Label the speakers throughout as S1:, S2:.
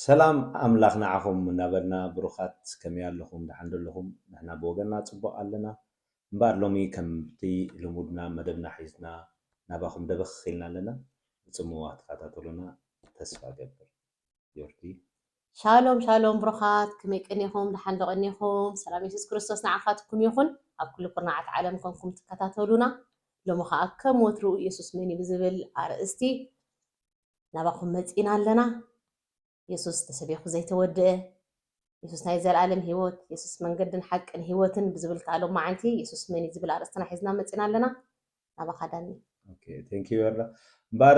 S1: ሰላም ኣምላኽ ንዓኹም እናበልና ብሩኻት ከመይ ኣለኹም ደሓን ዶ ኣለኹም ንሕና ብወገንና ጽቡቕ ኣለና እምበኣር ሎሚ ከምቲ ልሙድና መደብና ሒዝና ናባኹም ደበኽ ኢልና ኣለና ብጽምዋ ትኸታተሉና ተስፋ እገብር ዮርዲ። ሻሎም
S2: ሻሎም ብሩኻት ከመይ ቀኒኹም ደሓን ዶ ቀኒኹም ሰላም የሱስ ክርስቶስ ንዓኻትኩም ይኹን ኣብ ኩሉ ኩርናዓት ዓለም ኮንኩም ትከታተሉና ሎሚ ከኣ ከም ወትሩ የሱስ መን እዩ ብዝብል ኣርእስቲ ናባኹም መጺና ኣለና የሱስ ተሰቢኹ ዘይተወድአ የሱስ ናይ ዘልኣለም ህይወት የሱስ መንገድን ሓቅን ህይወትን ብዝብል ከኣ ሎማዓንቲ የሱስ መን እዩ ዝብል ኣርእስትና ሒዝና መጺና ኣለና ናባኻ ዳኒ። ኦኬ thank
S1: you ኤረ እምበኣር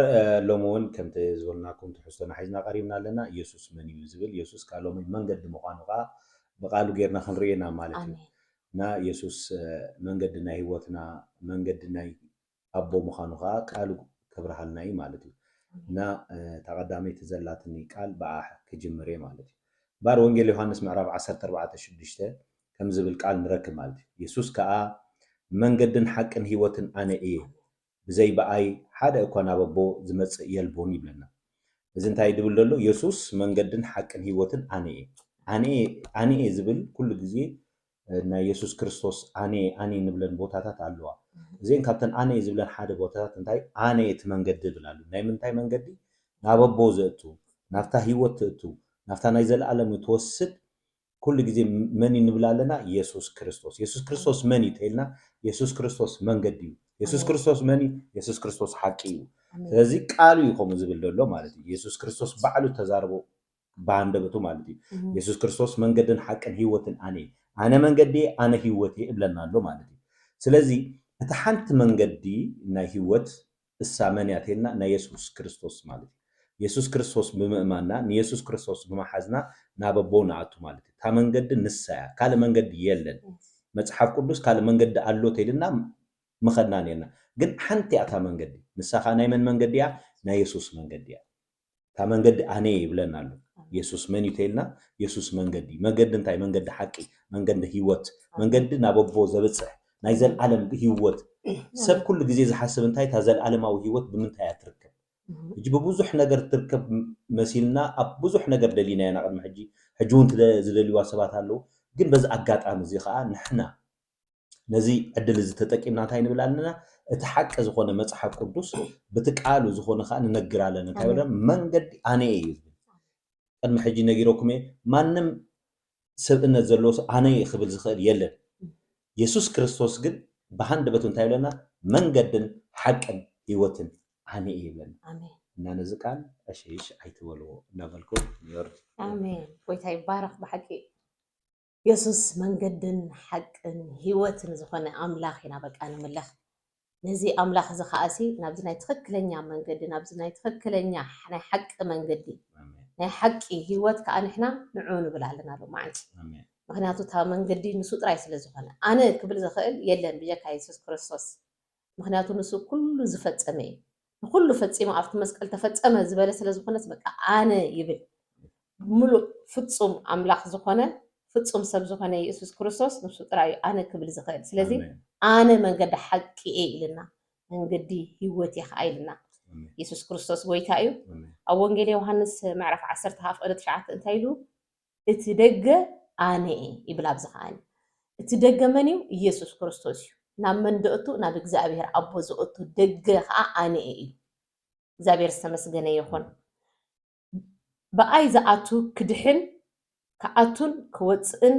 S1: ሎሚ ውን ከምቲ ዝበልናኩም ትሕዝቶና ሒዝና ቀሪብና ኣለና የሱስ መን እዩ ዝብል የሱስ ከኣ ሎሚ መንገዲ ምዃኑ ከኣ ብቃሉ ጌርና ክንርኢ ኢና ማለት እዩ ኣሜን እና የሱስ መንገዲ ናይ ሂወትና መንገዲ ናይ ኣቦ ምዃኑ ከኣ ቃሉ ከብርሃልና እዩ ማለት እዩ ኣሜን እና እታ ቀዳመይቲ ዘላትኒ ቃል ብኣ ክጅምር እየ ማለት እዩ እምበኣር ወንጌል ዮሃንስ ምዕራፍ ዓሰርተ ኣርባዕተ ሽዱሽተ ከም ዝብል ቃል ንረክብ ማለት እዩ። የሱስ ከኣ መንገድን ሓቅን ህይወትን ኣነ እየ፣ ብዘይ ብኣይ ሓደ እኳ ናብ ኣቦ ዝመጽእ የልቦን ይብለና። እዚ እንታይ እዩ ድብል ደሎ የሱስ መንገድን ሓቅን ህይወትን ኣነ እየ። ኣነ እየ ኣነ እየ ዝብል ኩሉ ግዜ ናይ የሱስ ክርስቶስ ኣነ እየ ኣነ እየ ንብለን ቦታታት ኣለዋ። እዚኤን ካብተን ኣነ እየ ዝብለን ሓደ ቦታታት እንታይ ኣነ እየ እቲ መንገዲ ይብል ኣሎ። ናይ ምንታይ መንገዲ ናብ ኣቦ ዘእቱ ናብታ ህይወት ትእቱ ናብታ ናይ ዘለኣለም እትወስድ ኩሉ ግዜ መን እዩ ንብል ኣለና የሱስ ክርስቶስ የሱስ ክርስቶስ መን እዩ ተይልና የሱስ ክርስቶስ መንገዲ እዩ የሱስ ክርስቶስ መን እዩ የሱስ ክርስቶስ ሓቂ እዩ ስለዚ ቃሉ እዩ ከምኡ ዝብል ዘሎ ማለት እዩ የሱስ ክርስቶስ ባዕሉ ተዛርቦ ብሃንደበቱ ማለት እዩ የሱስ ክርስቶስ መንገድን ሓቅን ህይወትን ኣነ ኣነ መንገዲ ኣነ ህይወት እብለና ኣሎ ማለት እዩ ስለዚ እቲ ሓንቲ መንገዲ ናይ ህይወት እሳ መን እያ ተይልና ናይ የሱስ ክርስቶስ ማለት እዩ የሱስ ክርስቶስ ብምእማንና ንየሱስ ክርስቶስ ብመሓዝና ናብ ኣቦ ንኣቱ ማለት እዩ እታ መንገዲ ንሳ እያ ካልእ መንገዲ የለን መጽሓፍ ቅዱስ ካልእ መንገዲ ኣሎ ተይልና ምኸድና ኔርና ግን ሓንቲ እያ እታ መንገዲ ንሳ ከኣ ናይ መን መንገዲ እያ ናይ የሱስ መንገዲ እያ እታ መንገዲ ኣነየ ይብለና ኣሎ የሱስ መን እዩ ተይልና የሱስ መንገዲ መገዲ እንታይ መንገዲ ሓቂ መንገዲ ህይወት መንገዲ ናብ ኣቦ ዘብፅሕ ናይ ዘልዓለም ህይወት ሰብ ኩሉ ግዜ ዝሓስብ እንታይ እታ ዘልዓለማዊ ህይወት ብምንታይ እያ ትርከብ ሕጂ ብብዙሕ ነገር ትርከብ መሲልና ኣብ ብዙሕ ነገር ደሊና ኢና ቅድሚ ሕጂ ሕጂ እውን ዝደልዋ ሰባት ኣለዉ ግን በዚ ኣጋጣሚ እዚ ከዓ ንሕና ነዚ ዕድል እዚ ተጠቂምና እንታይ ንብል ኣለና እቲ ሓቂ ዝኾነ መፅሓፍ ቅዱስ ብቲ ቃሉ ዝኾነ ከዓ ንነግር ኣለና እንታይ በለ መንገዲ ኣነ እዩ ዝብል ቅድሚ ሕጂ ነጊረኩም እየ ማንም ሰብእነት ዘለዎ ሰብ ኣነ እየ ክብል ዝኽእል የለን የሱስ ክርስቶስ ግን ብሃንደበቱ እንታይ ይብለና መንገድን ሓቅን ህይወትን ኣነ እየ ይብለና እና ነዚ
S2: ቃል
S1: ዕሽሽ ኣይትበልዎ እናበልኩ ይወርድ ኣሜን
S2: ጎይታ ይባረኽ ብሓቂ የሱስ መንገድን ሓቅን ህይወትን ዝኾነ ኣምላኽ ኢና በቃ ንምለኽ ነዚ ኣምላኽ እዚ ከኣሲ ናብዚ ናይ ትኽክለኛ መንገዲ ናብዚ ናይ ትኽክለኛ ናይ ሓቂ መንገዲ ናይ ሓቂ ሂወት ከዓ ንሕና ንዑ ንብል ኣለና ሎ መዓንቲ ምክንያቱ እታ መንገዲ ንሱ ጥራይ ስለ ዝኾነ ኣነ ክብል ዝኽእል የለን ብጀካ የሱስ ክርስቶስ ምክንያቱ ንሱ ኩሉ ዝፈጸመ እዩ ንኩሉ ፈጺሙ ኣብቲ መስቀል ተፈጸመ ዝበለ ስለ ዝኮነስ በቃ ኣነ ይብል ምሉእ ፍጹም ኣምላክ ዝኮነ ፍጹም ሰብ ዝኮነ የሱስ ክርስቶስ ንሱ ጥራይ እዩ ኣነ ክብል ዝክእል ስለዚ ኣነ መንገዲ ሓቂ እየ ኢልና መንገዲ ሂወት እየ ከኣ ኢልና የሱስ ክርስቶስ ጎይታ እዩ ኣብ ወንጌል ዮውሃንስ ምዕራፍ ዓሰርተ ሃፍቀደ ትሽዓተ እንታይ ኢሉ እቲ ደገ ኣነ እየ ይብል ኣብዚ ከኣ እቲ ደገ መን እዩ ኢየሱስ ክርስቶስ እዩ ናብ መን ደእቱ ናብ እግዚኣብሔር ኣቦ ዘእቱ ደገ ከኣ ኣነ እየ ኢሉ እግዚኣብሔር ዝተመስገነ ይኹን ብኣይ ዝኣቱ ክድሕን ክኣቱን ክወጽእን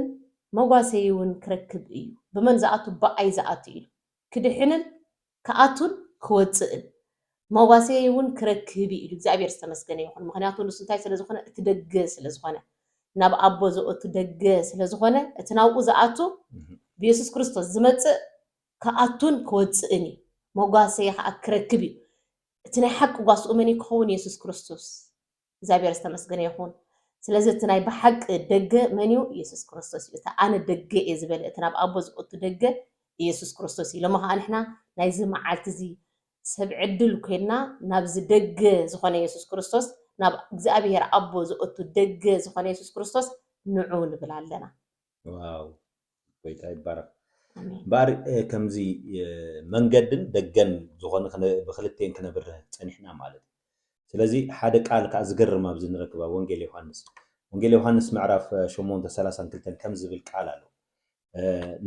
S2: መጓሰይውን ክረክብ እዩ ብመን ዝኣቱ ብኣይ ዝኣቱ ኢሉ ክድሕንን ክኣቱን ክወጽእን መዋሰየይ እውን ክረክብ እዩ ኢሉ። እግዚኣብሔር ዝተመስገነ ይኹን ምኽንያቱ ንሱ እንታይ ስለ ዝኾነ እቲ ደገ ስለ ዝኾነ ናብ ኣቦ ዘእቱ ደገ ስለ ዝኾነ እቲ ናብኡ ዝኣቱ ብየሱስ ክርስቶስ ዝመጽእ ክኣቱን ክወጽእን እዩ መጓሰይ ኸኣ ክረክብ እዩ እቲ ናይ ሓቂ ጓስኡ መን እዩ ክኸውን የሱስ ክርስቶስ እግዚኣብሔር ዝተመስገነ ይኹን ስለዚ እቲ ናይ ብሓቂ ደገ መን እዩ ኢየሱስ ክርስቶስ እዩ እቲ ኣነ ደገ እየ ዝበለ እቲ ናብ ኣቦ ዝእቱ ደገ ኢየሱስ ክርስቶስ እዩ ሎሚ ከዓ ንሕና ናይዚ መዓልቲ እዚ ሰብ ዕድል ኮይንና ናብዚ ደገ ዝኾነ ኢየሱስ ክርስቶስ ናብ እግዚኣብሔር ኣቦ ዝእቱ ደገ ዝኾነ ኢየሱስ ክርስቶስ ንዑ ንብል ኣለና። ዋው
S1: ጎይታ ይባረክ እምበኣር ከምዚ መንገድን ደገን ዝኾነ ብክልቴን ክነብርህ ጸኒሕና ማለት እዩ ስለዚ ሓደ ቃል ከኣ ዝገርም ኣብዚ ንረክብ ኣብ ወንጌል ዮሃንስ ወንጌል ዮሃንስ ምዕራፍ ሸሞንተ ሰላሳን ክልተን ከምዚ ዝብል ቃል ኣሎ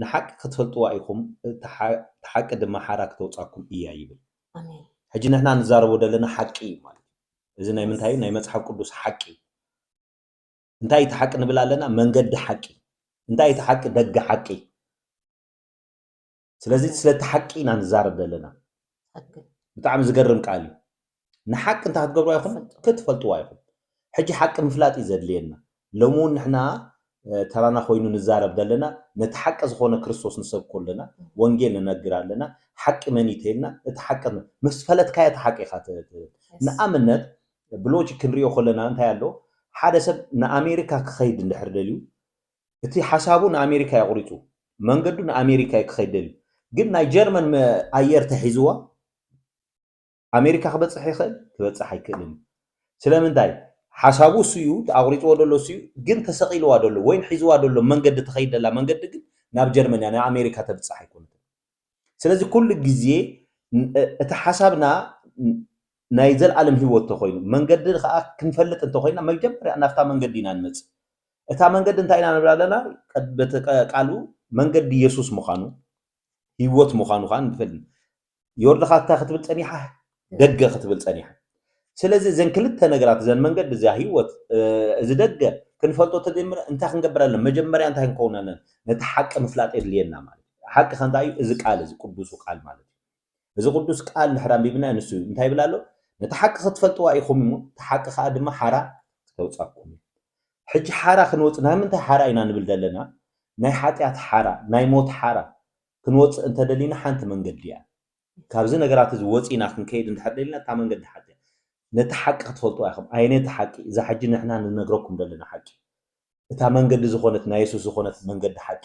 S1: ንሓቂ ክትፈልጥዋ ኢኹም እቲ ሓቂ ድማ ሓራ ክተውጻኩም እያ ይብል ሕጂ ንሕና ንዛረቦ ዘለና ሓቂ እዩ ማለት እዚ ናይ ምንታይ ናይ መጽሓፍ ቅዱስ ሓቂ እንታይ እቲ ሓቂ ንብል ኣለና መንገዲ ሓቂ እንታይ እቲ ሓቂ ደገ ሓቂ ስለዚ ስለቲ ሓቂ ኢና ንዛረብ ዘለና ብጣዕሚ ዝገርም ቃል እዩ ንሓቂ እንታይ ክትገብርዋ ይኹም ክትፈልጥዋ ይኹም ሕጂ ሓቂ ምፍላጥ እዩ ዘድልየና ሎሚ እውን ንሕና ተራና ኮይኑ ንዛረብ ዘለና ነቲ ሓቂ ዝኾነ ክርስቶስ ንሰብኮ ኣለና ወንጌል ንነግር ኣለና ሓቂ መን ይተይልና እቲ ሓቂ ምስ ፈለጥካዮ እቲ ሓቂ ኢኻ ንኣብነት ብሎጂክ ክንሪኦ ከለና እንታይ ኣሎ ሓደ ሰብ ንኣሜሪካ ክኸይድ እንድሕር ደልዩ እቲ ሓሳቡ ንኣሜሪካ እዩ ኣቑሪፁ መንገዱ ንኣሜሪካ እዩ ክኸይድ ደልዩ ግን ናይ ጀርመን ኣየር ተሒዝዋ ኣሜሪካ ክበፅሕ ይኽእል ክበፅሕ ኣይክእልን እዩ ስለምንታይ ሓሳቡ እሱ እዩ ኣቑሪፅዎ ደሎ እሱ እዩ ግን ተሰቂልዋ ደሎ ወይን ሒዝዋ ደሎ መንገዲ ትኸይድ ደላ መንገዲ ግን ናብ ጀርመን እያ ንኣሜሪካ ተብፅሕ ኣይኮነትን ስለዚ ኩሉ ግዜ እቲ ሓሳብና ናይ ዘልኣለም ህይወት ተኮይኑ መንገዲ ከኣ ክንፈልጥ እንተኮይና መጀመርያ ናብታ መንገዲ ኢና ንመጽእ እታ መንገዲ እንታይ ኢና ንብል ኣለና በቲ ቃሉ መንገዲ የሱስ ምዃኑ ህይወት ምዃኑ ከኣ ንፈልጥ ዮርድኻ እንታይ ክትብል ጸኒሓ ደገ ክትብል ጸኒሓ። ስለዚ እዘን ክልተ ነገራት እዘን መንገዲ እዚኣ ህይወት እዚ ደገ ክንፈልጦ ተጀሚረ እንታይ ክንገብር ኣለና መጀመርያ እንታይ ክንከውን ኣለና ነቲ ሓቂ ምፍላጥ የድልየና ማለት እዩ። ሓቂ ከ እንታይ እዩ? እዚ ቃል እዚ ቅዱሱ ቃል ማለት እዩ። እዚ ቅዱስ ቃል ድሕሪ ኣንቢብና ንሱ እዩ እንታይ ይብል ኣሎ ነቲ ሓቂ ክትፈልጥዋ ኢኹም እሞ እቲ ሓቂ ከዓ ድማ ሓራ ክተውፃኩም እዩ። ሕጂ ሓራ ክንወፅእ ናይ ምንታይ ሓራ ኢና ንብል ዘለና? ናይ ሓጢኣት ሓራ ናይ ሞት ሓራ ክንወፅእ እንተደሊና ሓንቲ መንገዲ እያ። ካብዚ ነገራት እዚ ወጺና ክንከይድ እንድሕር ደሊና እታ መንገዲ ሓቂ እያ። ነቲ ሓቂ ክትፈልጥዋ ኢኹም። ኣየነይቲ ሓቂ? እዛ ሕጂ ንሕና ንነግረኩም ደለና ሓቂ። እታ መንገዲ ዝኾነት ናይ የሱስ ዝኾነት መንገዲ ሓቂ።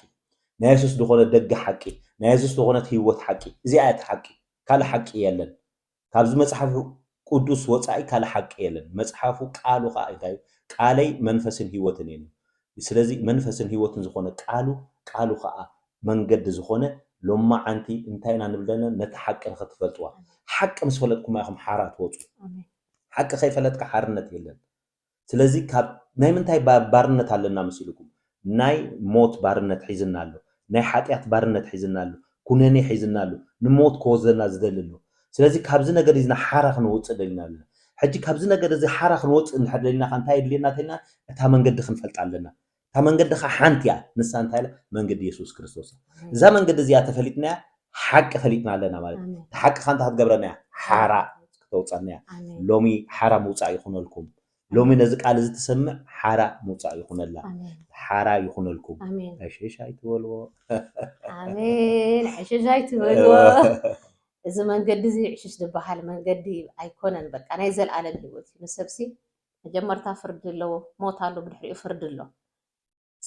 S1: ናይ የሱስ ዝኾነት ደገ ሓቂ። ናይ የሱስ ዝኾነት ህይወት ሓቂ። እዚኣ እያ እታ ሓቂ። ካልእ ሓቂ የለን። ካብዚ መጽሓፍ ቁዱስ ወጻኢ ካልእ ሓቂ የለን መጽሓፉ ቃሉ ከኣ ኢንታይ እዩ ቃለይ መንፈስን ሂወትን እየን እዩ ስለዚ መንፈስን ሂወትን ዝኮነ ቃሉ ቃሉ ከኣ መንገዲ ዝኮነ ሎማዓንቲ እንታይ ኢና ንብል ዘለና ነታ ሓቂ ንክትፈልጥዋ ሓቂ ምስ ፈለጥኩማ ኢኩም ሓራ ትወጹ ሓቂ ከይፈለጥካ ሓርነት የለን ስለዚ ካብ ናይ ምንታይ ባርነት ኣለና መሲሉኩም ናይ ሞት ባርነት ሒዝና ኣሎ ናይ ሓጥያት ባርነት ሒዝና ኣሎ ኩነኔ ሒዝና ኣሎ ንሞት ክወስደና ዝደሊ ኣሎ ስለዚ ካብዚ ነገር እዚ ሓራ ክንወጽእ ደሊና ኣለና ሕጂ ካብዚ ነገር እዚ ሓራ ክንወጽእ እንድሕር ደሊና ከኣ እንታይ የድልየና ተልና እታ መንገዲ ክንፈልጣ ኣለና እታ መንገዲ ኸዓ ሓንቲ እያ፣ ንሳ እንታይ እያ? መንገዲ የሱስ ክርስቶስ እያ። እዛ መንገዲ እዚኣ ተፈሊጥናያ ሓቂ ፈሊጥና ኣለና ማለት እዩ። ኣሜን እታ ሓቂ ኸዓ እንታይ ክትገብረና እያ? ሓራ ክተውፀና እያ። ኣሜን ሎሚ ሓራ ምውፃእ ይኹነልኩም። ሎሚ ኣሜን ነዚ ቃል እዚ እትሰምዕ ሓራ ምውፃእ ይኹነላ። ኣሜን ሓራ ይኹነልኩም። ኣሜን ዕሽሽ ኣይትበልዎ። ኣሜን
S2: ዕሽሽ ኣይትበልዎ። እዚ መንገዲ እዚ ዕሽሽ ዝበሃል መንገዲ ኣይኮነን። በቃ ናይ ዘለኣለም ህይወት እዩ። ንሰብሲ መጀመርታ ፍርዲ ኣሎ ሞት ኣሎ ብድሕሪኡ ፍርዲ ኣሎ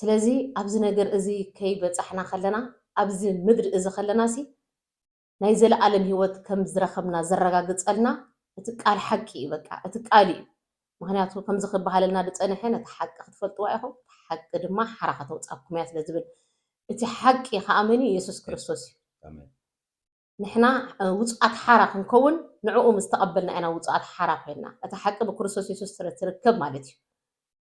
S2: ስለዚ ኣብዚ ነገር እዚ ከይበጻሕና ከለና ኣብዚ ምድሪ እዚ ከለና ሲ ናይ ዘለኣለም ሂወት ከም ዝረከብና ዘረጋግጸልና እቲ ቃል ሓቂ እዩ በቃ እቲ ቃል እዩ ምክንያቱ ከምዚ ክበሃለልና ዝጸነሐ ነቲ ሓቂ ክትፈልጥዋ ኢኹም እቲ ሓቂ ድማ ሓራ ከተውጻኩም እያ ስለ ዝብል እቲ ሓቂ ከኣ መን እዩ የሱስ ክርስቶስ እዩ ንሕና ውጹዓት ሓራ ክንከውን ንዕኡ ምስ ተቐበልና ኢና ውጹዓት ሓራ ኮይንና። እታ ሓቂ ብክርስቶስ የሱስ ጥረ ትርከብ ማለት እዩ።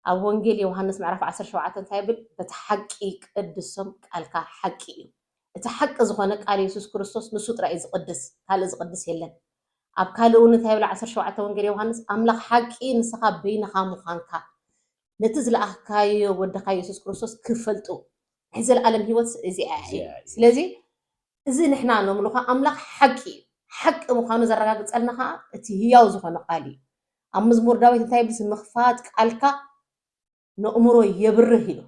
S2: ኣብ ወንጌል ዮሃንስ ምዕራፍ ዓሰርተ ሸውዓተ እንታይ ይብል? በቲ ሓቂ ቀድሶም ቃልካ ሓቂ እዩ። እቲ ሓቂ ዝኾነ ቃል የሱስ ክርስቶስ ንሱ ጥራይ እዩ ዝቕድስ ካልእ ዝቕድስ የለን። ኣብ ካልእ እውን እንታይ ይብል ዓሰርተ ሸውዓተ ወንጌል ዮሃንስ ኣምላኽ ሓቂ ንስኻ በይንኻ ምዃንካ ነቲ ዝለኣኽካዮ ወድኻ የሱስ ክርስቶስ ክፈልጡ ናይ ዘለኣለም ህይወት እዚኣ እያ። ስለዚ እዚ ንሕና እነምልኾ ኣምላኽ ሓቂ እዩ፣ ሓቂ ምዃኑ ዘረጋግጸልና ኸኣ እቲ ህያው ዝዀነ ቓል እዩ። ኣብ መዝሙር ዳዊት እንታይ ይብል? ምኽፋት ቃልካ ነእምሮ የብርህ ኢሉ።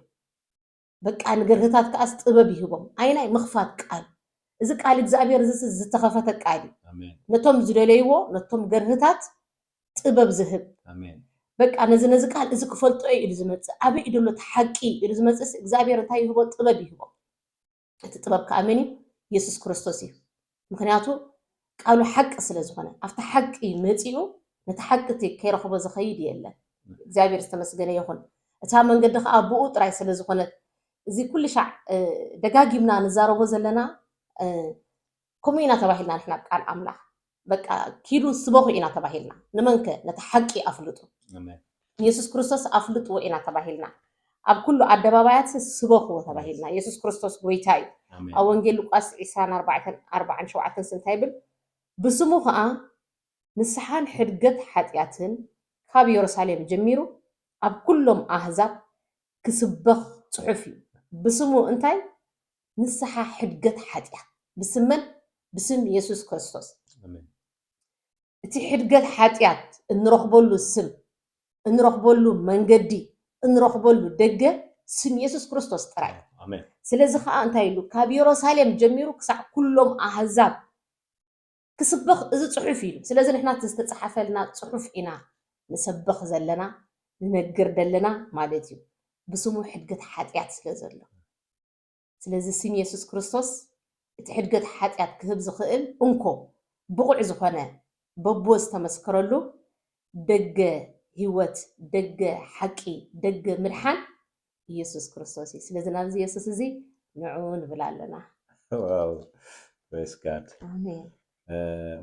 S2: በቃ ንገርህታት ከኣስ ጥበብ ይህቦም። ኣይናይ ምኽፋት ቃል እዚ ቃል እግዚኣብሔር እዚስ ዝተኸፈተ ቃል እዩ። ኣሜን ነቶም ዝደለይዎ ነቶም ገርህታት ጥበብ ዝህብ ኣሜን በቃ ነዚ ነዚ ቃል እዚ ክፈልጦ እዩ ኢሉ ዝመጽእ ኣበይ እዩ ዘሎ እቲ ሓቂ ኢሉ ዝመጽእስ እግዚኣብሔር እንታይ ይህቦ ጥበብ ይህቦ እቲ ጥበብ ከኣ መን እዩ? የሱስ ክርስቶስ እዩ። ምኽንያቱ ቃሉ ሓቂ ስለ ዝኾነ። ኣብቲ ሓቂ መጺኡ ነቲ ሓቂ እቲ ከይረኽቦ ዝኸይድ የለን። እግዚኣብሔር ዝተመስገነ ይኹን። እታ መንገዲ ከኣ ብኡ ጥራይ ስለ ዝኾነት እዚ ኩልሻዕ ደጋጊምና ንዛረቦ ዘለና ከምኡ ኢና ተባሂልና ንሕና ቃል ኣምላኽ በቃ ኪዱ ስበኹ ኢና ተባሂልና ንመንከ ነቲ ሓቂ ኣፍልጡ ኢየሱስ ክርስቶስ ኣፍልጥዎ ኢና ተባሂልና ኣብ ኩሉ ኣደባባያት ስበኽዎ ተባሂልና ኢየሱስ ክርስቶስ ጎይታ እዩ ኣብ ወንጌል ሉቃስ ዒስራን ኣርባዕተን ኣርባዓን ሸውዓተን ስንታይ ይብል ብስሙ ከኣ ንስሓን ሕድገት ሓጢኣትን ካብ የሩሳሌም ጀሚሩ ኣብ ኩሎም ኣህዛብ ክስበኽ ጽሑፍ እዩ ብስሙ እንታይ ንስሓ ሕድገት ሓጥያት ብስም መን ብስም የሱስ ክርስቶስ ኣሜን። እቲ ሕድገት ሓጥያት እንረኽበሉ ስም እንረኽበሉ መንገዲ እንረኽበሉ ደገ ስም የሱስ ክርስቶስ ጥራይ እዩ። ኣሜን። ስለዚ ከኣ እንታይ ኢሉ ካብ የሮሳሌም ጀሚሩ ክሳዕ ኩሎም ኣህዛብ ክስበኽ እዚ ጽሑፍ ኢሉ ስለዚ ንሕና እቲ ዝተጻሓፈልና ጽሑፍ ኢና ንሰበኽ ዘለና ንነግር ደለና ማለት እዩ ብስሙ ሕድገት ሓጥያት ስለ ዘሎ ስለዚ ስም የሱስ ክርስቶስ እቲ ሕድገት ሓጥያት ክህብ ዝኽእል እንኮ ብቑዕ ዝኾነ በብወ ዝተመስከረሉ ደገ ህይወት ደገ ሓቂ ደገ ምድሓን ኢየሱስ ክርስቶስ እዩ ስለዚ ናብዚ የሱስ እዚ ንዑ ንብል ኣለና። ዋው
S1: ፕሬስ ጋድ ኣሜን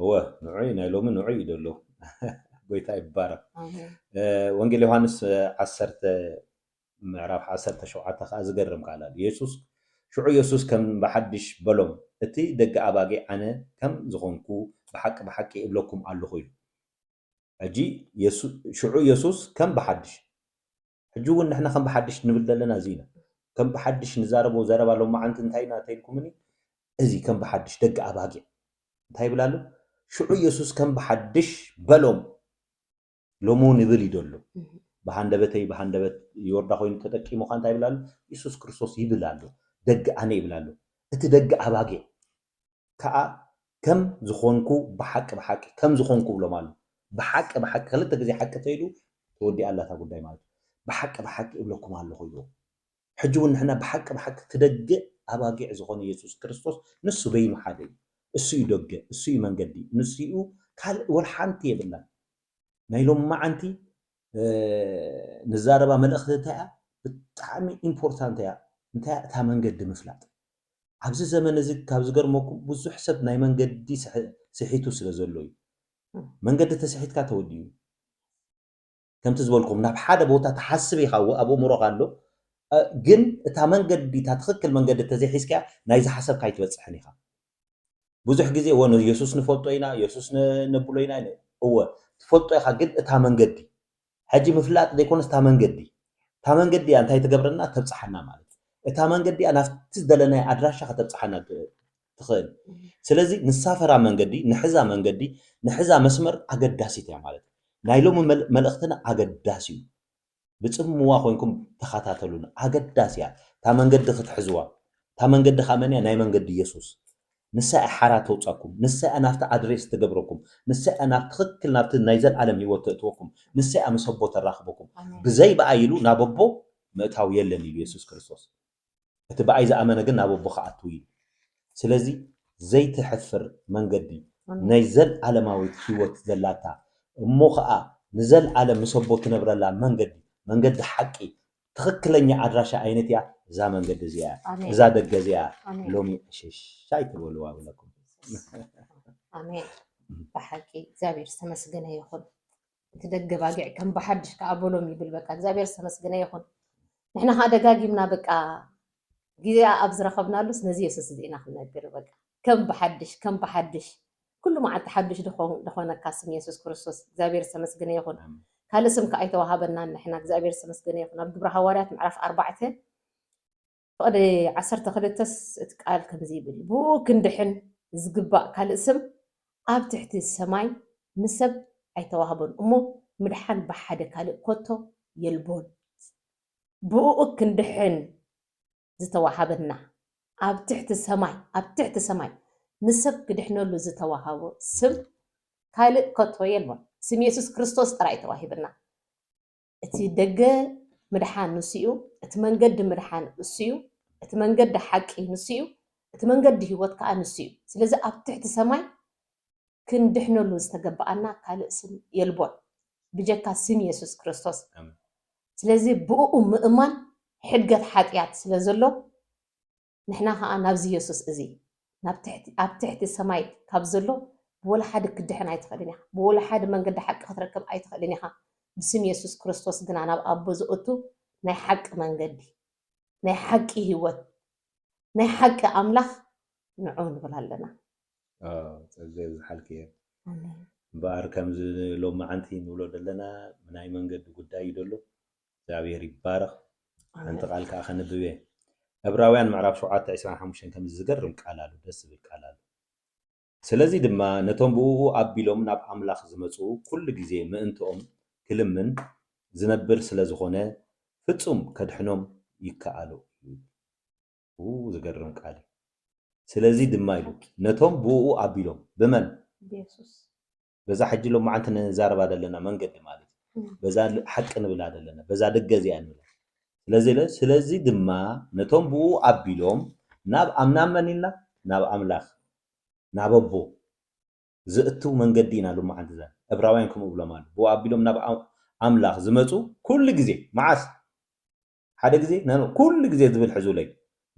S2: እወ
S1: ንዑይ ናይ ሎሚ ንዑይ እዩ ዘሎ ጎይታ ይባረክ ኣሜን እ፣ ወንጌል ዮሃንስ እ፣ ዓሰርተ ምዕራፍ ዓሰርተ ሸውዓተ ከዓ ዝገርም ቃል ኣሎ የሱስ ሽዑ የሱስ ከም ብሓድሽ በሎም እቲ ደቂ ኣባጌ ኣነ ከም ዝኾንኩ ብሓቂ ብሓቂ እብለኩም ኣለኹ ኢሉ ሕጂ የሱ- ሽዑ የሱስ ከም ብሓድሽ ሕጂ ውን ንሕና ከም ብሓድሽ ንብል ዘለና እዚ ኢና ከም ብሓድሽ ንዛረቦ ዘረባ ሎማዓንቲ እንታይ ኢና ተይልኩምኒ እዚ ከም ብሓድሽ ደቂ ኣባጊዕ እንታይ ይብል ኣሎ ሽዑ የሱስ ከም ብሓድሽ በሎም ሎሚ ውን ይብል እዩ ዘሎ ብሃንደበተይ ብሃንደበት ይወርዳ ኮይኑ ተጠቂሙ ካ እንታይ ይብል ኣሎ የሱስ ክርስቶስ ይብል ኣሎ ደቂ ኣነ ይብል ኣሎ እቲ ደቂ ኣባጊዕ ከኣ ከም ዝኾንኩ ብሓቂ ብሓቂ ከም ዝኾንኩ እብሎም ኣሉ ብሓቂ ብሓቂ ክልተ ግዜ ሓቂ ተይሉ ተወዲኣ ኣላ እታ ጉዳይ ማለት ብሓቂ ብሓቂ እብለኩም ኣለኹ ኢልዎም ሕጂ ውን ንሕና ብሓቂ ብሓቂ እቲ ደገ ኣባጊዕ ዝኾነ የሱስ ክርስቶስ ንሱ በይኑ ሓደ እዩ እሱ እዩ ደገ እሱ እዩ መንገዲ ንሱ እዩ ካልእ ወልሓንቲ የብላን ናይ ሎሚ መዓንቲ ንዛረባ መልእኽቲ እንታይ እያ ብጣዕሚ ኢምፖርታንት እያ እንታይ እያ እታ መንገዲ ምፍላጥ ኣብዚ ዘመን እዚ ካብ ዝገርመኩም ብዙሕ ሰብ ናይ መንገዲ ስሒቱ ስለ ዘሎ እዩ መንገዲ ተስሒትካ ተወዲኡ ከምቲ ዝበልኩም ናብ ሓደ ቦታ ትሓስብ ኢኻ ኣብ ኣእምሮኻ ኣሎ ግን እታ መንገዲ እታ ትኽክል መንገዲ ተዘይሒዝካያ ናይ ዝሓሰብካ ኣይትበፅሕን ኢኻ ብዙሕ ግዜ እወ ንየሱስ ንፈልጦ ኢና የሱስ ነብሎ ኢና እወ ትፈልጦ ኢኻ ግን እታ መንገዲ ሕጂ ምፍላጥ ዘይኮነስ እታ መንገዲ እታ መንገዲ እያ እንታይ ትገብረና ተብጽሓና ማለት እዩ እታ መንገዲ እያ ናብቲ ዝደለናዮ ኣድራሻ ከተብጽሓና ትኽእል ስለዚ ንሳፈራ መንገዲ ንሕዛ መንገዲ ንሕዛ መስመር ኣገዳሲት እያ ማለት እዩ ናይ ሎሚ መልእኽትና ኣገዳሲ እዩ ብጽምዋ ኮንኩም ተኸታተሉና ኣገዳሲ እያ እታ መንገዲ ክትሕዝዋ እታ መንገዲ ከኣ መን እያ ናይ መንገዲ የሱስ ንሳ እያ ሓራ ተውጻኩም ንሳ እያ ናብቲ ኣድሬስ ትገብረኩም ንሳ እያ ናብ ትኽክል ናብቲ ናይ ዘልኣለም ሂወት ተእትወኩም ንሳ እያ ምስ ኣቦ ተራኽበኩም ብዘይ ብኣይ ኢሉ ናብ ኣቦ ምእታው የለን ኢሉ የሱስ ክርስቶስ እቲ ብኣይ ዝኣመነ ግን ናብ ኣቦ ክኣትው እዩ ስለዚ ዘይትሐፍር መንገዲ ናይ ዘልኣለማዊት ሂወት ዘላታ እሞ ከኣ ንዘልኣለም ምስ ኣቦ ትነብረላ መንገዲ መንገዲ ሐቂ ትኽክለኛ ኣድራሻ ኣይነት እያ እዛ መንገዲ እዚኣ እያ ኣሜን እዛ ደገ እዚኣ እያ ኣሜን ሎሚ ዕሽሽ ኣይትበልዋ ይብለኩም
S2: ኣሜን ብሓቂ እግዚኣብሔር ዝተመስገነ ይኹን እቲ ደገ ባጊዕ ከም ብሓድሽ ከኣ በሎም ይብል በቃ እግዚኣብሔር ዝተመስገነ ይኹን ንሕና ከኣ ደጋጊምና በቃ ጊዜኣ ኣብ ዝረኸብናሉስ ነዚ የሱስ እዚ ኢና ክንነግር በቃ ከም ብሓድሽ ከም ብሓድሽ ኩሉ መዓልቲ ሓድሽ ድኾነካ ስም የሱስ ክርስቶስ እግዚኣብሔር ዝተመስገነ ይኹን ካልእ ስም ከኣ ኣይተዋሃበናን ንሕና እግዚኣብሔር ዝተመስገነ ይኹን ኣብ ግብረ ሃዋርያት ምዕራፍ ኣርባዕተ ቕዲ ዓሰርተ ክልተ ስ እቲ ቃል ከምዚ ይብል፣ ብእኡ ክንድሕን ዚግባእ ካልእ ስም ኣብ ትሕቲ ሰማይ ንሰብ ኣይተዋህቦን እሞ ምድሓን ብሓደ ካልእ ከቶ የልቦን። ብእኡ ክንድሕን ዝተዋህበና ኣብ ትሕቲ ሰማይ ኣብ ትሕቲ ሰማይ ንሰብ ክድሕነሉ ዝተዋህቦ ስም ካልእ ከቶ የልቦን። ስም የሱስ ክርስቶስ ጥራይ እዩ ተዋሂብና። እቲ ደገ ምድሓን ንሱ'ዩ፣ እቲ መንገዲ ምድሓን እሱ'ዩ፣ እቲ መንገዲ ሓቂ ንሱ'ዩ፣ እቲ መንገዲ ህይወት ከኣ ንሱ'ዩ። ስለዚ ኣብ ትሕቲ ሰማይ ክንድሕነሉ ዝተገበኣና ካልእ ስም የልቦን ብጀካ ስም የሱስ ክርስቶስ። ስለዚ ብእኡ ምእማን ሕድገት ሓጥያት ስለዘሎ ንሕና ከኣ ናብዚ የሱስ እዚ ናብ ትሕቲ ኣብ ትሕቲ ሰማይ ካብ ዘሎ ብወላሓደ ክትድሕን ኣይትክእልን ኢካ ብወላሓደ መንገዲ ሓቂ ክትረክብ ኣይትክእልን ኢካ ብስም የሱስ ክርስቶስ ግና ናብ ኣቦ ዘእቱ ናይ ሓቂ መንገዲ ናይ ሓቂ ሂወት ናይ ሓቂ ኣምላክ ንዑ ንብል ኣለና። ዋው ጸገ
S1: ይብዝሓልኪ እየ ኣሜን። እምበኣር ከምዚ ሎምዓንቲ ንብሎ ደለና ናይ መንገዲ ጉዳይ እዩ ደሎ እግዚኣብሔር ይባረኽ ሓንቲ ቃል ከኣ ከንብብ እየ ዕብራውያን ምዕራፍ ሸውዓተ ዕስራን ሓሙሽተን ከምዚ ዝገርም ቃል ኣሎ ደስ ዝብል ቃል ኣሎ ስለዚ ድማ ነቶም ብእኡ ኣቢሎም ናብ ኣምላኽ ዝመጹ ኩሉ ግዜ ምእንትኦም ክልምን ዝነብር ስለ ዝኾነ ፍጹም ከድሕኖም ይከኣሎ እዩ ኡ ዝገርም ቃል እዩ ስለዚ ድማ ኢሉ ነቶም ብእኡ ኣቢሎም ብመን ብየሱስ
S2: በዛ ሕጂ
S1: ሎማዓንቲ ንዛረባ ዘለና መንገዲ ማለት እዩ በዛ ሓቂ ንብላ ዘለና በዛ ደገ እዚኣ ንብላ ስለዚ ለ ስለዚ ድማ ነቶም ብኡ ኣቢሎም ናብ ኣብ ናብ መን ኢልና ናብ ኣምላኽ ናብ ኣቦ ዘእትው መንገዲ ኢና ሎማዓንቲ ዘ እብራውያን ከምኡ ብሎም ኣሎ ብኡ ኣቢሎም ናብ ኣምላኽ ዝመጹ ኩሉ ግዜ መዓስ ሓደ ግዜ ናብ ኩሉ ግዜ ዝብል ሕዙለይ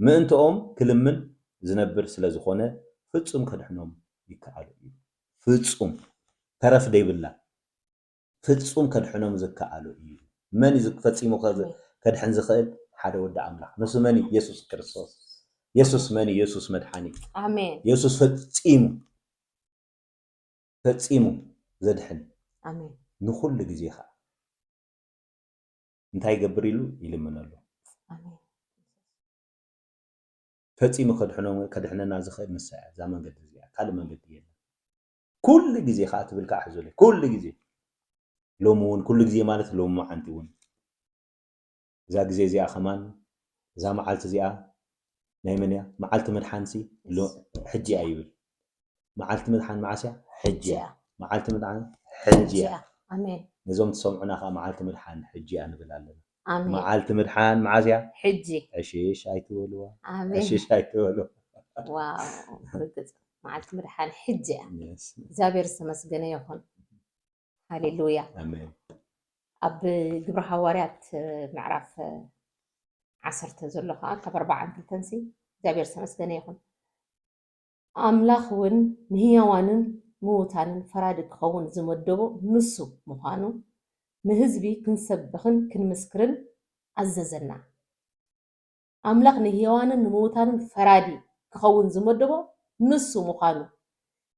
S1: ምእንትኦም ክልምን ዝነብር ስለ ዝኾነ ፍጹም ከድሕኖም ይከኣሎ እዩ። ፍጹም ተረፍ ደይብላ ፍጹም ከድሕኖም ዝከኣሎ እዩ። መን እዩ ፈጺሙ ከድሕን ዝኽእል? ሓደ ወዲ ኣምላኽ ንሱ መን እዩ? የሱስ ክርስቶስ። የሱስ መን እዩ? የሱስ መድሓኒት። ኣሜን። የሱስ
S2: ፈጺሙ
S1: ፈጺሙ ዘድሕን ኣሜን።
S2: ንኹሉ ግዜ
S1: ኸኣ እንታይ ይገብር ኢሉ ይልምነሉ ፈፂሙ ከድሕነና ዝኽእል ንሳ እያ እዛ መንገዲ እዚኣ ካልእ መንገዲ የለን ኩሉ ግዜ ከዓ ትብል ከዓ ሕዞለ ኩሉ ግዜ ሎሚ እውን ኩሉ ግዜ ማለት ሎሚ መዓንቲ እውን እዛ ግዜ እዚኣ ከማን እዛ መዓልቲ እዚኣ ናይ መን እያ መዓልቲ ምድሓን ሲ ሎ ሕጂ እያ ይብል መዓልቲ ምድሓን መዓስ እያ ሕጂ እያ መዓልቲ ምድሓን ሕጂ እያ ኣሜን
S2: ነዞም ትሰምዑና ከኣ
S1: መዓልቲ ምድሓን ሕጂ እያ ንብል ኣለና ኣሜን መዓልቲ
S2: ምድሓን
S1: መዓስ እያ ሕጂ ዕሽሽ
S2: ኣይትበልዋ
S1: ኣሜን ዕሽሽ ኣይትበልዋ
S2: ዋው
S1: ርግጽ
S2: መዓልቲ ምድሓን ሕጂ እያ Yes. እግዚኣብሔር ዝተመስገነ ይኹን ሃሌሉያ ኣሜን
S1: ኣብ
S2: ግብረ ሃዋርያት ምዕራፍ ዓሰርተ ዘሎ ከዓ ካብ ኣርባዓን ክልተን ሲ እግዚኣብሔር ዝተመስገነ ይኹን ኣምላኽ እውን ንህያዋንን ምዉታንን ፈራዲ ክኸውን ዝመደቦ ንሱ ምዃኑ ንህዝቢ ክንሰብኽን ክንምስክርን ኣዘዘና ኣምላኽ ንህያዋንን ንምዉታንን ፈራዲ ክኸውን ዝመደቦ ንሱ ምዃኑ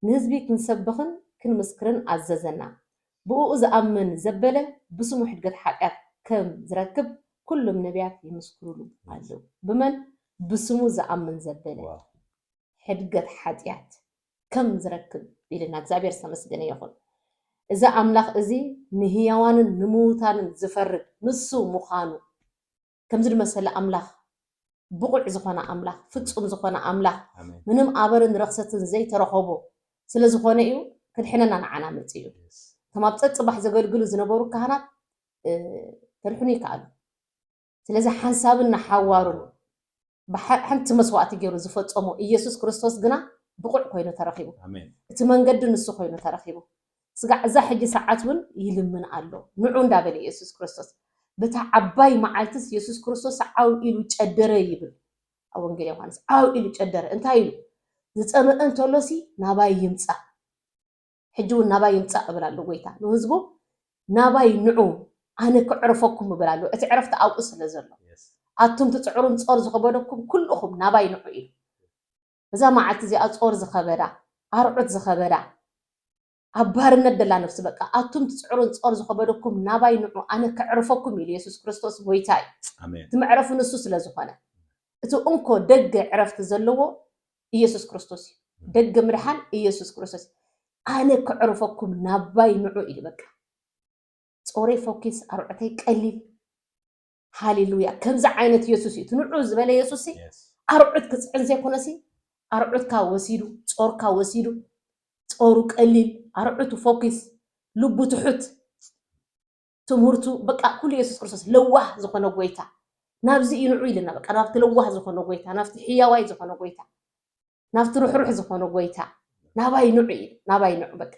S2: ንህዝቢ ክንሰብኽን ክንምስክርን ኣዘዘና። ብእኡ ዝኣምን ዘበለ ብስሙ ሕድገት ሓጢኣት ከም ዝረክብ ኩሎም ነብያት ይምስክሩሉ ኣለዉ። ብመን? ብስሙ ዝኣምን ዘበለ ሕድገት ሓጢኣት ከም ዝረክብ ኢልና። እግዚኣብሔር ዝተመስገነ ይኹን። እዚ ኣምላኽ እዚ ንህያዋንን ንምዉታንን ዝፈርድ ንሱ ምዃኑ ከምዚ ድመሰለ ኣምላኽ ብቑዕ ዝኾነ ኣምላኽ ፍጹም ዝኾነ ኣምላኽ ምንም ኣበርን ረኽሰትን ዘይተረኸቦ ስለ ዝኾነ እዩ ክድሕነና ንዓና መጺኡ ከም ኣብ ጸጽባሕ ዘገልግሉ ዝነበሩ ካህናት ከድሕኑ ይከኣሉ ስለዚ ሓንሳብን ንሓዋሩን ብሓንቲ መስዋእቲ ገይሩ ዝፈጸሞ ኢየሱስ ክርስቶስ ግና ብቑዕ ኮይኑ ተረኺቡ። ኣሜን። እቲ መንገዲ
S1: ንሱ ኮይኑ
S2: ተረኺቡ። ስጋዕ እዛ ሕጂ ሰዓት እውን ይልምን ኣሎ። ንዑ እንዳበለ ኢየሱስ ክርስቶስ በታ ዓባይ መዓልትስ ኢየሱስ ክርስቶስ ዓው ኢሉ ጨደረ ይብል ኣብ ወንጌል ዮሐንስ። ዓው ኢሉ ጨደረ እንታይ ኢሉ ዝጸመእ እንተሎሲ ናባይ ይምጻእ ሕጂ ውን ናባይ ይምጻእ ክብል ኣሎ ጎይታ ንህዝቡ ናባይ ንዑ ኣነ ከዕርፈኩም ይብል ኣሎ እቲ ዕረፍቲ ኣብኡ ስለ ዘሎ ኣቱም ትጽዕሩን ጾር ዝኸበደኩም ኩሉኹም ናባይ ንዑ ኢሉ እዛ መዓልቲ እዚኣ ጾር ዝኸበዳ ኣርዑት ዝኸበዳ ኣብ ባርነት ደላ ነፍሲ በቃ ኣቱም ትፅዕሩን ፆር ዝኸበደኩም ናባይ ንዑ ኣነ ከዕርፈኩም ኢሉ የሱስ ክርስቶስ ጎይታ እዩ እቲ መዕረፉ
S1: ንሱ ስለ
S2: ዝኾነ እቲ እንኮ ደገ ዕረፍቲ ዘለዎ ኢየሱስ ክርስቶስ እዩ ደገ ምድሓን ኢየሱስ ክርስቶስ እዩ ኣነ ከዕርፈኩም ናባይ ንዑ ኢሉ በቃ ጾረይ ፎኪስ ኣርዑተይ ቀሊል ሃሌሉያ ከምዚ ዓይነት ኢየሱስ እዩ ትንዑ ዝበለ ኢየሱስ ሲ ኣርዑት ክጽዕን ዘይኮነ ሲ ኣርዑትካ ወሲዱ ጾርካ ወሲዱ ጾሩ ቀሊል ኣርዑቱ ፎኪስ ልቡ ትሑት ትምህርቱ በቃ ኩሉ የሱስ ክርስቶስ ለዋህ ዝኾነ ጎይታ ናብዚ እዩ ንዑ ኢልና በቃ ናብቲ ለዋህ ዝኾነ ጎይታ ናብቲ ሕያዋይ ዝኾነ ጎይታ ናብቲ ርሕሩሕ ዝኾነ ጎይታ ናባይ ንዑ እዩ ናባይ ንዑ በቃ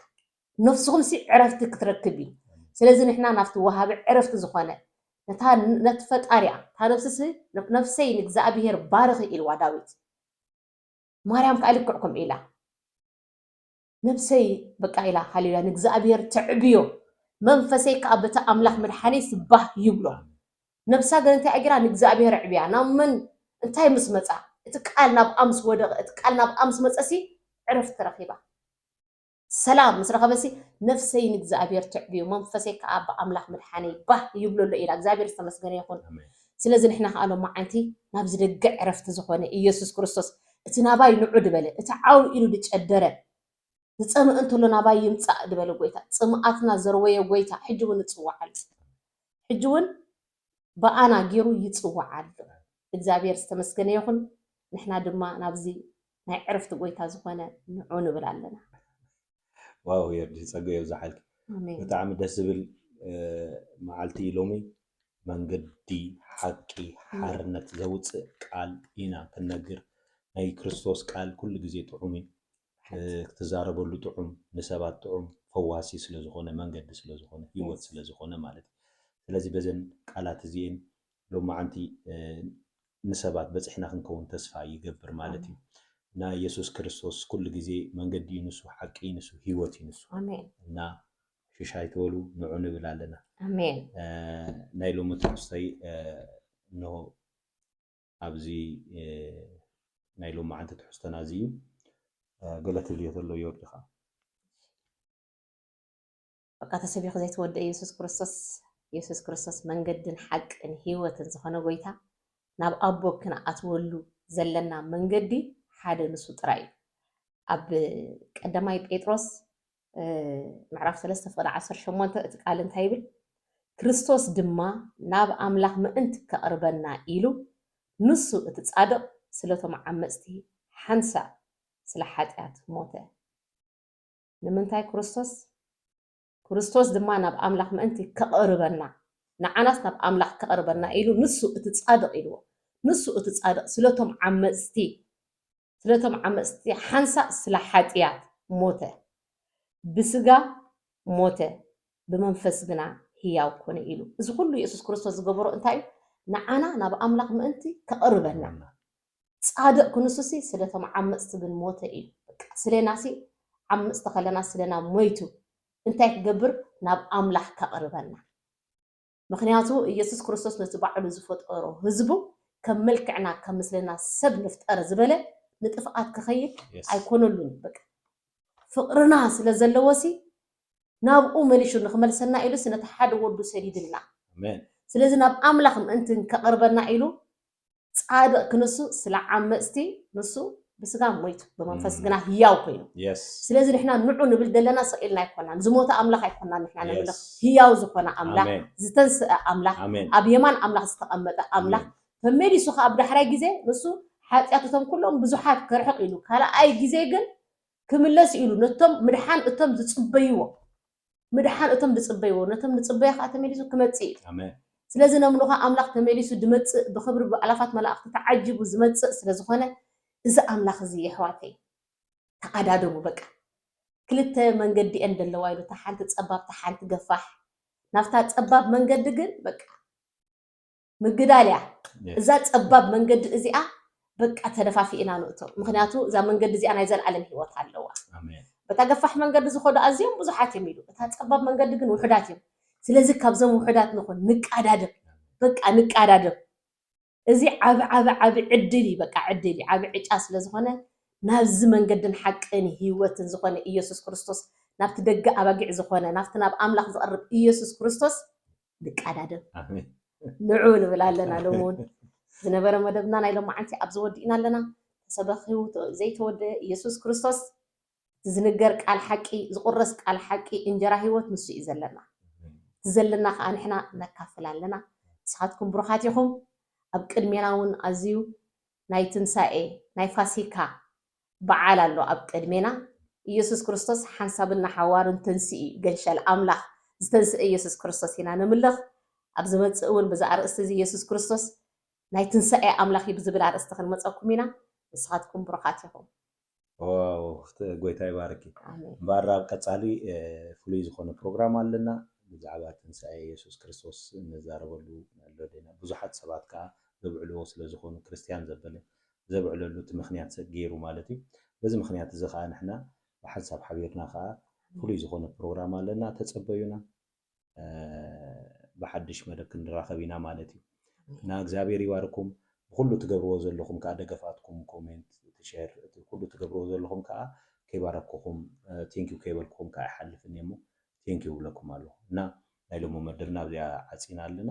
S2: ነፍስኹም ሲ ዕረፍቲ ክትረክብ እዩ ስለዚ ንሕና ናብቲ ወሃቢ ዕረፍቲ ዝኾነ ነቲ ፈጣሪያ እታ ነፍስሲ ነፍሰይ ንእግዚኣብሄር ባርኺ ኢልዋ ዳዊት ማርያም ከዓ ልክዕ ከምኡ ኢላ ነብሰይ በቃ ኢላ ሃሌሉያ ንእግዚኣብሔር ተዕብዮ መንፈሰይ ከኣ በቲ ኣምላኽ መድሓኒት ባህ ይብሎ ነብሳ ግን እንታይ ጌራ ንእግዚኣብሔር ኣዕብያ ናብ መን እንታይ ምስ መጻ እቲ ቃል ናብ ኣምስ ወደቐ እቲ ቃል ናብ ኣምስ መጸሲ ዕረፍቲ ረኺባ ሰላም ምስ ረኸበሲ ነፍሰይ ንእግዚኣብሔር ትዕብዮ መንፈሰይ ከዓ ብኣምላኽ ምድሓነይ ባህ ይብሎ ኣሎ ኢላ እግዚኣብሔር ዝተመስገነ ይኹን ስለዚ ንሕና ከዓ ሎማዓንቲ ናብዚ ደገ ዕረፍቲ ዝኾነ ኢየሱስ ክርስቶስ እቲ ናባይ ንዑ ድበለ፣ እቲ ዓው ኢሉ ድጨደረ፣ ዝጸምእ እንተሎ ናባይ ይምጻእ ድበለ ጐይታ፣ ጽምኣትና ዘርወየ ጐይታ ሕጂውን እጽውዓ ኣሎኹ። ሕጂውን ብኣና ገይሩ ይጽውዓ ኣሎ። እግዚኣብሔር ዝተመስገነ ይኹን፣ ንሕና ድማ ናብዚ ናይ ዕረፍቲ ጐይታ ዝኾነ ንዑ ንብል ኣለና።
S1: ዋው የርዲ ጸገ የብዛሓልኪ ብጣዕሚ ደስ ዝብል መዓልቲ ሎሚ መንገዲ ሓቂ ሓርነት ዘውፅእ ቃል ኢና ክንነግር ናይ ክርስቶስ ቃል ኩሉ ግዜ ጥዑም እዩ ክትዛረበሉ ጥዑም ንሰባት ጥዑም ፈዋሲ ስለዝኾነ መንገዲ ስለዝኾነ ህይወት ስለዝኾነ ማለት እዩ ስለዚ በዘን ቃላት እዚኤን ሎማዓንቲ ንሰባት በጺሕና ክንከውን ተስፋ ይገብር ማለት እዩ። እና ኢየሱስ ክርስቶስ ኩሉ ግዜ መንገዲ እዩ ንሱ ሓቂ እዩ ንሱ ህይወት እዩ ንሱ እና ሽሽ ኣይትበሉ ንዑ ንብል ኣለና።
S2: ናይ
S1: ሎሚ ትሕዝቶይ እንሆ ኣብዚ ናይ ሎማዓንቲ ትሕዝቶና እዚ እዩ። ገለ ትብልዮ ተሎ ዮርዲ ከኣ
S2: በቃ ተሰቢኹ ዘይተወድኤ የሱስ ክርስቶስ የሱስ ክርስቶስ መንገድን ሓቅን ህይወትን ዝኾነ ጎይታ ናብ ኣቦ ክንኣትወሉ ዘለና መንገዲ ሓደ ንሱ ጥራይ እዩ። ኣብ ቀዳማይ ጴጥሮስ ምዕራፍ 3 ፍቅዲ 18 እቲ ቃል እንታይ ይብል? ክርስቶስ ድማ ናብ ኣምላኽ ምእንቲ ከቕርበና ኢሉ ንሱ እቲ ጻድቕ ስለቶም ዓመጽቲ ሓንሳእ ስለ ሓጢኣት ሞተ። ንምንታይ ክርስቶስ ክርስቶስ ድማ ናብ ኣምላኽ ምእንቲ ከቕርበና ንዓናስ ናብ ኣምላኽ ከቕርበና ኢሉ ንሱ እቲ ጻድቕ ኢልዎ ንሱ እቲ ጻድቕ ስለቶም ዓመጽቲ ስለቶም ዓመጽቲ ሓንሳእ ስለ ሓጥያት ሞተ ብስጋ ሞተ ብመንፈስ ግና ህያው ኮነ ኢሉ እዚ ኩሉ የሱስ ክርስቶስ ዝገበሮ እንታይ እዩ ንዓና ናብ ኣምላኽ ምእንቲ ከቕርበና ጻድቅ ክንሱሲ ስለ ቶም ዓመጽቲ ግን ሞተ ኢዩ በቃ ስሌናሲ ዓምጽቲ ከለና ስለና ሞይቱ እንታይ ክገብር ናብ ኣምላክ ከቅርበና ምክንያቱ ኢየሱስ ክርስቶስ ነቲ ባዕሉ ዝፈጠሮ ህዝቡ ከም መልክዕና ከም ምስልና ሰብ ንፍጠር ዝበለ ንጥፍኣት ክከይድ ኣይኮነሉን ኢዩ በቃ ፍቅርና ስለ ዘለዎሲ ናብኡ መሊሹ ንክመልሰና ኢሉሲ ነቲ ሓደ ወዱ ሰዲድልና ስለዚ ናብ ኣምላክ ምእንቲ ከቅርበና ኢሉ ጻድቅ ክንሱ ስለ ዓመጽቲ ንሱ ብስጋ ሞይቱ ብመንፈስ ግና ህያው ኮይኑ ስለዚ ንሕና ንዑ ንብል ዘለና ስቅ ኢልና ኣይኮናን ዝሞተ ኣምላኽ ኣይኮናን ንሕና ነምልኽ ህያው ዝኾነ ኣምላኽ ዝተንስአ ኣምላኽ ኣብ የማን ኣምላኽ ዝተቐመጠ ኣምላኽ ተመሊሱ ከዓ ኣብ ዳሕራይ ግዜ ንሱ ሓጢኣት እቶም ኩሎም ብዙሓት ከርሕቕ ኢሉ ካልኣይ ግዜ ግን ክምለስ ኢሉ ነቶም ምድሓን እቶም ዝጽበይዎ ምድሓን እቶም ድጽበይዎ ነቶም ንጽበዮ ከኣ ተመሊሱ ክመጽእ እዩ። ኣሜን። ስለዚ ነምልኾ ኣምላኽ ተመሊሱ ድመጽእ ብኽብሪ ብኣእላፋት መላእኽቲ ተዓጂቡ ዝመጽእ ስለ ዝኾነ እዚ ኣምላኽ እዚ የሕዋተይ ተኣዳደቡ በቃ ክልተ መንገዲ እየን ደለዋ ኢሉ እታ ሓንቲ ጸባብ እታ ሓንቲ ገፋሕ ናብታ ጸባብ መንገዲ ግን በቃ ምግዳል እያ እዛ ፀባብ መንገዲ እዚኣ በቃ ተደፋፊእና ንእቶ ምክንያቱ እዛ መንገዲ እዚኣ ናይ ዘለዓለም ሂወት ኣለዋ በታ ገፋሕ መንገዲ ዝኮዱ ኣዝዮም ብዙሓት እዮም ኢሉ እታ ፀባብ መንገዲ ግን ውሑዳት እዮም ስለዚ ካብዞም ውሑዳት ንኹን ንቃዳደም በቃ ንቃዳደም እዚ ዓብ ዓብ ዓብ ዕድል እዩ በቃ ዕድል እዩ ዓብ ዕጫ ስለ ዝኾነ ናብዚ መንገድን ሓቅን ሂወትን ዝኾነ ኢየሱስ ክርስቶስ ናብቲ ደገ ኣባጊዕ ዝኾነ ናብቲ ናብ ኣምላኽ ዝቐርብ ኢየሱስ ክርስቶስ ንቃዳደም ንዑ ንብል ኣለና ሎሚ ውን ዝነበረ መደብና ናይ ሎማዓንቲ ኣብዚ ወዲእና ኣለና ተሰበኪዉ ዘይተወደኤ እየሱስ ክርስቶስ እቲ ዝንገር ቃል ሓቂ ዝቁረስ ቃል ሓቂ እንጀራ ሂወት ንሱ እዩ ዘለና እቲ ዘለና ከኣ ንሕና ነካፍል ኣለና ንስካትኩም ብሩካት ኢኩም ኣብ ቅድሜና ውን ኣዝዩ ናይ ትንሳኤ ናይ ፋሲካ በዓል ኣሎ ኣብ ቅድሜና ኢየሱስ ክርስቶስ ሓንሳብን ንሓዋሩን ተንሥኢ ገንሸል ኣምላኽ ዝተንሥኤ ኢየሱስ ክርስቶስ ኢና ነምልኽ ኣብ ዝመጽእ እውን ብዚ ኣርእስቲ እዚ ኢየሱስ ክርስቶስ ናይ ትንሣኤ ኣምላኽ እዩ ብዝብል ኣርእስቲ ክንመጸኩም ኢና ንስኻትኩም ብሩኻት ኢኹም። ዋው
S1: ጎይታ ይባርኪ እምበኣር ኣብ ቀጻሊ ፍሉይ ዝኾነ ፕሮግራም ኣለና ብዛዕባ ትንሳኤ የሱስ ክርስቶስ ንዛረበሉ ኣሎ ዲና ብዙሓት ሰባት ከኣ ዘብዕልዎ ስለ ዝኾኑ ክርስትያን ዘበለ ዘብዕለሉ እቲ ምክንያት ገይሩ ማለት እዩ። በዚ ምክንያት እዚ ከኣ ንሕና ብሓንሳብ ሓቢርና ከኣ ፍሉይ ዝኾነ ፕሮግራም ኣለና ተጸበዩና ብሓድሽ መደብ ክንራኸብ ኢና ማለት እዩ። እና እግዚኣብሔር ይባርኩም ብኹሉ ትገብርዎ ዘለኹም ከኣ ደገፋትኩም ኮሜንት እቲ ሸር እቲ ኩሉ ትገብርዎ ዘለኹም ከኣ ከይባረኩኹም ቴንኪው ከይበልኩኹም ከኣ ይሓልፍን እየ እሞ ቴንኪው እብለኩም ኣለኹ እና ናይ ሎሚ መደብና ኣብዚኣ ዓጺና ኣለና።